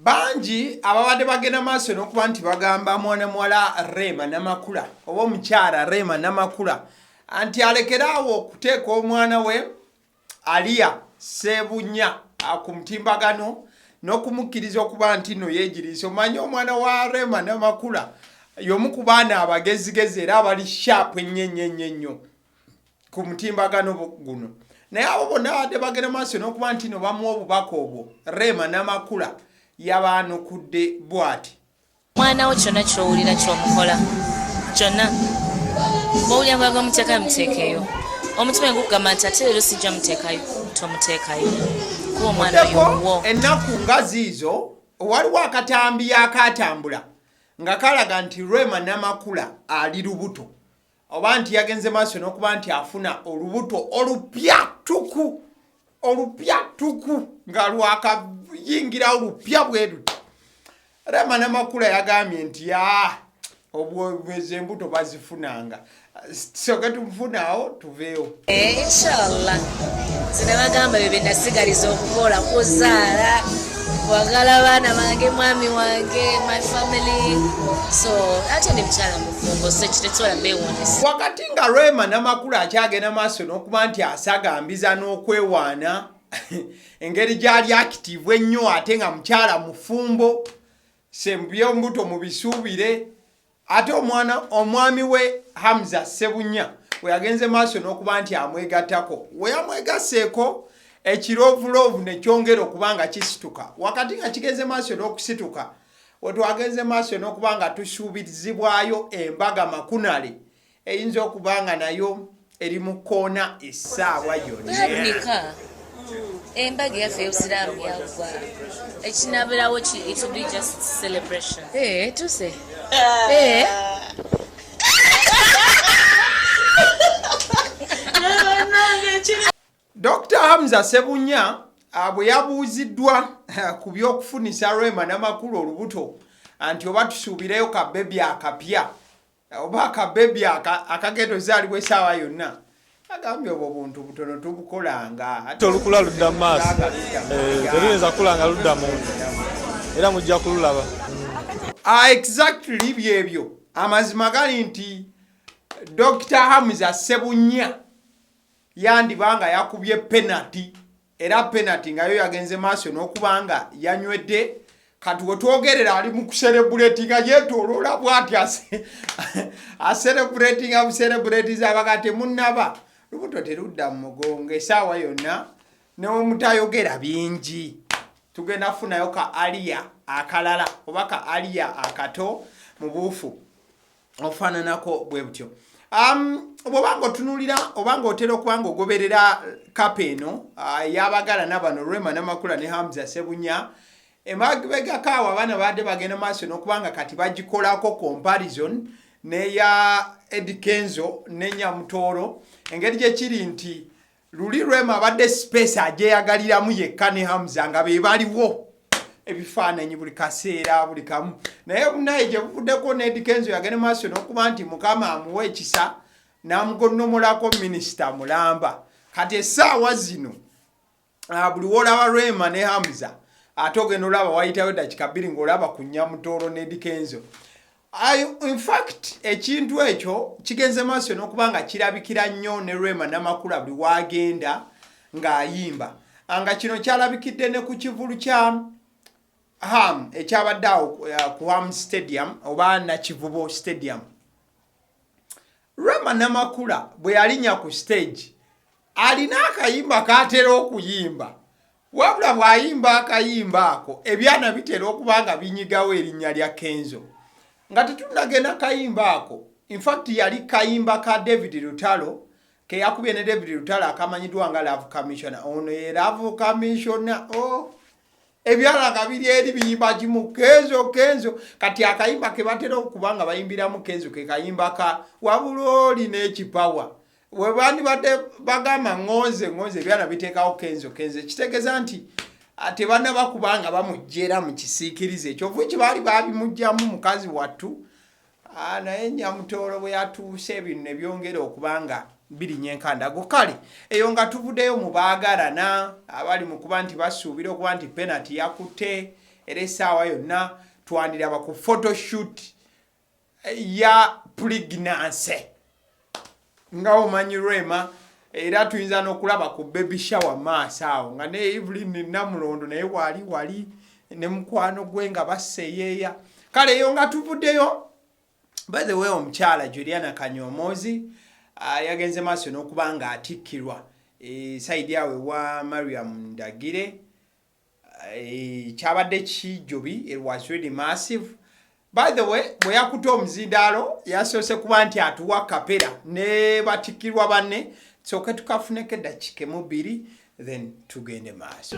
bangi ababadde bagenda maaso n'okuba nti bagamba mwana muwala Rema Namakula oba omukyala Rema Namakula nti alekere awo okuteeka omwana we Aliya Sebunya ku mutimbagano n'okumukkiriza okuba nti no yeegiriisa omanye omwana wa Rema Namakula y'omu ku baana abagezigezi era abali shaapu ennyo ennyo ennyo ennyo ku mutimbagano guno naye abo bonna badde bagenda maaso n'okuba nti no bamuwa obubaka obwo rema n'amakula yabaanukudde bwati mwana wo kyonna kyowulira kyomukola kyonna bowulira mulaga omuteekayo muteekeeyo omutima gukugamba nti ate leero sijja muteekayo tomuteekayo kuba omwana yowo ennaku nga ziizo waliwo akatambi yakaatambula nga kalaga nti rema namakula ali lubuto oba nti yagenze maaso n'okuba nti afuna olubuto olupya tuku olupya tuku nga lwakayingirawo lupya bweruti rema namakula yagambye nti ya obwobwezi embuto bazifunanga soke tufunaawo tuveewo Eh, inshallah zina bagamba bebe nasigaliza okukola kuzaala wagala baana bange mwami wange my family so ate ndi mukyala mufumbo so kitekisobola bewonesa wakati nga rema namakulu akyagenda maaso n'okuba nti asagambiza n'okwewaana engeri gyali akitivu ennyo ate nga mukyala mufumbo sembyo mbuto mubisuubire Ate omwana omwami we Hamza Ssebunya we yagenze maaso n'okuba nti amwegattako we yamwegasseeko ekiroovulovu ne kyongera okuba nga kisituka wakati nga kigenze maaso n'okusituka wetwagenze maaso n'okuba nga tusuubizibwayo embaga makunale eyinza okuba nga nayo eri mu kkoona essaawa yonnabunika embaga eyaffe eyobusiraamu yaggwa ekinabirawo ki it will be just celebration eh, tuse ah. eh. dr hamza sebunya ah, bwe yabuuziddwa ah, ku by'okufunisa rwema namakulu olubuto anti oba tusuubireyo kabebi akapya oba akabebi akagenda ozaalibwa esaawa yonna agambye obwo buntu butono tubukolanga ate olukula ludda mu maaso eh, teruyinza kukula nga ludda munda era mujja kululaba ah, exactly byebyo amazima gali nti dr hamza sebunya yandiba nga yakubye penati era penati nga yo yagenze maaso n'okuba nga yanywedde kati wetwogerera ali mu kuserebuleti nga yetoloola bwati aserebuleti nga buserebuleti zabaga temunaba lubuto terudda mu mugongo esaawa yonna newemutayogera bingi tugenda kufunayo ka aliya akalala oba ka aliya akato mu buufu ofaananako bwe butyo um, bwoba nga otunulira oba nga otera okuba nga ogoberera kapa eno uh, yabagala nabano rema namakula ne hamza sebunya emabegakaawo abaana baadde bagenda maaso nokuba nga kati bagikolako comparison neya edikenzo nenyamutooro engeri gyekiri nti luli rema abadde space ajeyagaliramu yekka ne hamza nga be baliwo ebifaananyi buli kaseera buli kamu naye bunaye gye buvuddeko nedikenzo yagende maaso n'okuba nti mukama amuwa ekisa n'amugonnomolako minisita mulamba kati essaawa zino ah, buli woolaba rema ne hamza ate ogenda olaba wayitayo dakika bbiri ng'olaba ku nyamutoolo nedikenzo infact ekintu ekyo kigenze maaso nokuba nga kirabikira nnyo ne rema namakula buli wagenda ng'ayimba ah, nga kino kyalabikidde ne ku kivulu kya ham ekyabadde awo eh, ku ham stadium oba nakivubo stadium rema namakula bwe yalinya ku stage alina akayimba katera okuyimba Wabula bw'ayimba akayimba ako ebyana bitera okuba nga binyigawo erinnya lya Kenzo. Nga tetunnagenda kayimba ako, in fact yali kayimba ka David Lutalo ke yakubye ne David Lutalo akamanyiddwa nga Love Commissioner. Ono ye Love Commissioner. Oh. ebyala nga biri eri biyimba kimu kenzo kenzo kati akayimba ke batera okuba nga bayimbiramu kenzo ke kayimba ka wabula oli n'ekipawa webandibadde bagamba ngonze ngonze ebyana biteekawo kenzo kenzo ekitegeeza nti ah, tebanaba kubanga bamujjera mu kisiikirize ekyovu ki baali babimugjamu mukazi wattu ah, naye nyamutoolo bwe yatuuse ebintu ne byongera okuba nga birinya enkandago kale eyo nga tuvuddeyo mu baagalana abali mu kuba nti basuubira okuba nti penati yakutte era essaawa yonna twandiraba ku photoshoot ya puliginanse nga omanyi rema era tuyinza n'okulaba ku baby shower maaso awo nga ne evelyn namulondo naye wali wali ne mukwano gwe nga baseyeeya kale eyo nga tuvuddeyo by the way omukyala juliana kanyomoozi ah, yagenze maaso n'okuba nga atikkirwa e, saidi awe wa mariam ndagire Eh, kyabadde kijubi it was really massive by the way bwe yakuta omuzindaalo yasoose kuba nti atuwa kapera ne batikirwa banne soke tukafuneko eddakiika emu bbiri then tugende maaso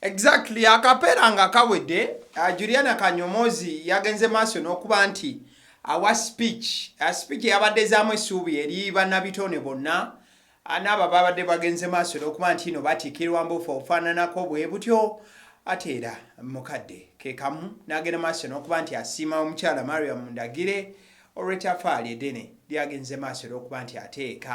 Exactly akapeera nga kawedde uh, Juliana Kanyomozi yagenze maaso n'okuba nti awa speech uh, speech yabadde zaamu essuubi eri bannabitone bonna uh, n'abo babadde bagenze maaso n'okuba nti ino batiikirwa mbuufu obufaananako bwe butyo ate era mukadde kekamu n'agenda maaso n'okuba nti asiima omukyala Mariam Ndagire olw'ettafaali eddene lyagenze maaso n'okuba nti ateeka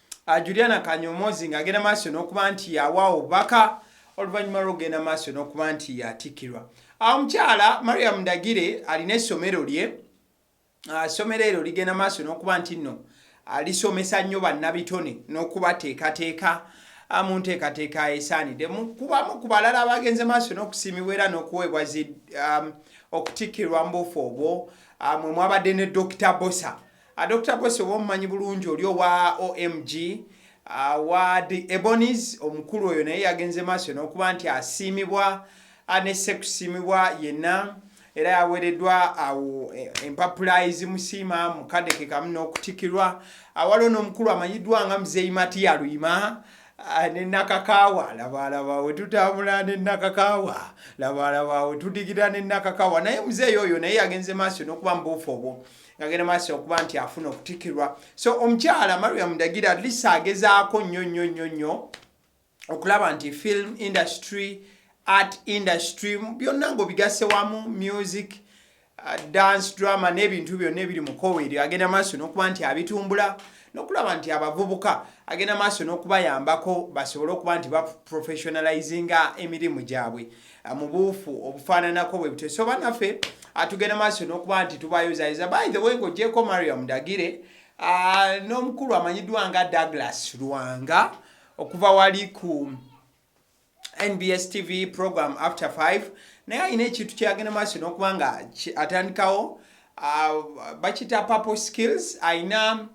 ah, juliana kanyomozi ng'agenda maaso n'okuba nti yawa obubaka oluvannyuma lw'okugenda maaso n'okuba nti yatikkirwa ah, omukyala mariam ndagire alina essomero lye ah, essomero eryo ligenda maaso n'okuba nti nno lisomesa nnyo bannabitone n'okubateekateeka mu nteekateeka esaanidde kubamu ku balala abagenze maaso n'okusiimibwa era n'okuweebwa um, okutikkirwa mbuufu obwo mwe mwabadde ne dokita bosa A Dokita Bwesi oba omumanyi bulungi oli owa OMG award uh, Ebonies omukulu oyo naye yagenze maaso n'okuba nti asiimibwa uh, ne sekusiimibwa yenna era yaweereddwa awo uh, e, empapula ezimusiima mu kadde ke kamu n'okutikirwa awaliwo n'omukulu amanyiddwa nga muzeeyi matiya luyima Ah, nenakakawa labalaba wetutambula nenakakawa labalaba wetudigida nenakakawa naye muzeeyi oyo naye yagenze maaso nokuba mubuufu obwo ngagenda maaso okuba nti afuna okutikirwa so omukyala mariam ndagira atlist agezaako nnyo nnyo nnyo nnyo okulaba nti film industry art industry byonna ngaobigasse wamu music uh, dance drama n'ebintu byonna ebiri mukowe eryo agenda maaso n'okuba nti abitumbula nokulaba nti abavubuka agenda maaso n'okubayambako basobole okuba nti baprofessionalizinga emirimu gyabwe mu buufu obufaananako bwe butyo so banaffe atugenda maaso n'okuba nti tubayozayeza by the way ng'ogyeko mariam dagire uh, n'omukulu amanyiddwa nga douglas lwanga okuva wali ku nbs tv program after 5 naye alina ekintu kyeyagenda maaso n'okuba nga atandikawo uh, bakita purple skills alina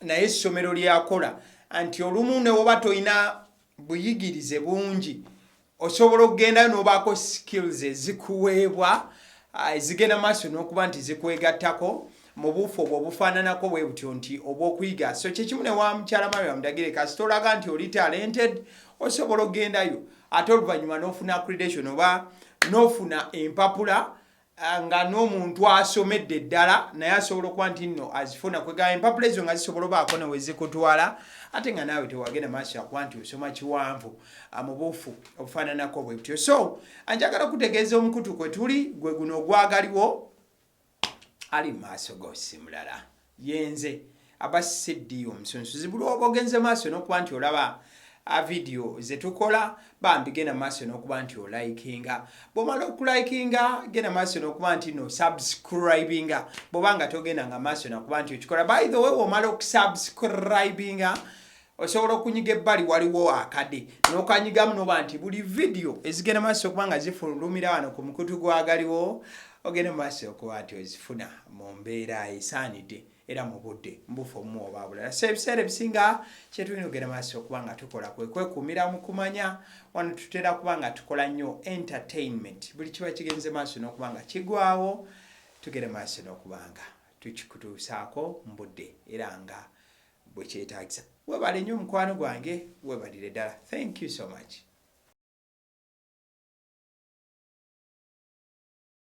naye essomero lyakola nti olumu newoba tolina buyigirize bungi osobola okugendayo n'obaako skills ezikuweebwa ah, ezigenda maaso n'okuba nti zikwegattako mu buufu obwo obufaananako bwe butyo nti obw'okuyiga so kyekimu ne wa mukyala maria mudagire kasita olaga nti oli talented osobola okugendayo ate oluvannyuma n'ofuna accreditation oba n'ofuna empapula Ah, nga n'omuntu asomedde ddala naye asobola okuba nti nno azifuna kwegamba empapula ezo nga zisobola obaako newezikutwala ate nga naawe tewagenda maaso yakuba nti osoma kiwanvu ah, mubuufu obufaananako bwe butyo so anjagala okutegeeza omukutu kwe tuli gwe guno ogwagaliwo ali mu maaso gosimulala Yenze aba CD omusunsuzi buli oba ogenze maaso n'okuba nti olaba a video zetukola bambi genda maaso n'okuba nti olikinga bwomala okulikinga genda maaso n'okuba nti no subscribinga bwoba nga togenda nga maaso nakuba nti okikola by the way womala okusubscribinga osobola okunyiga ebbali waliwo akade nokanyigamu noba nti buli vidiyo ezigenda maaso okuba nga zifulumira wano ku mukutu gwagaliwo ogenda maaso okuba nti ozifuna mu mbeera esaanidde era mu budde mbufu omu oba bulala so ebiseera ebisinga kyetulina ogenda maaso okuba nga tukola kwe kwekuumira mu kumanya wano tutera kuba nga tukola nnyo entertainment buli kiba kigenze maaso n'okuba nga kigwawo tugenda maaso n'okuba nga tukikutuusaako mu budde era nga bwekyetagisa webale nyo mukwano gwange webalire dala thank you so much.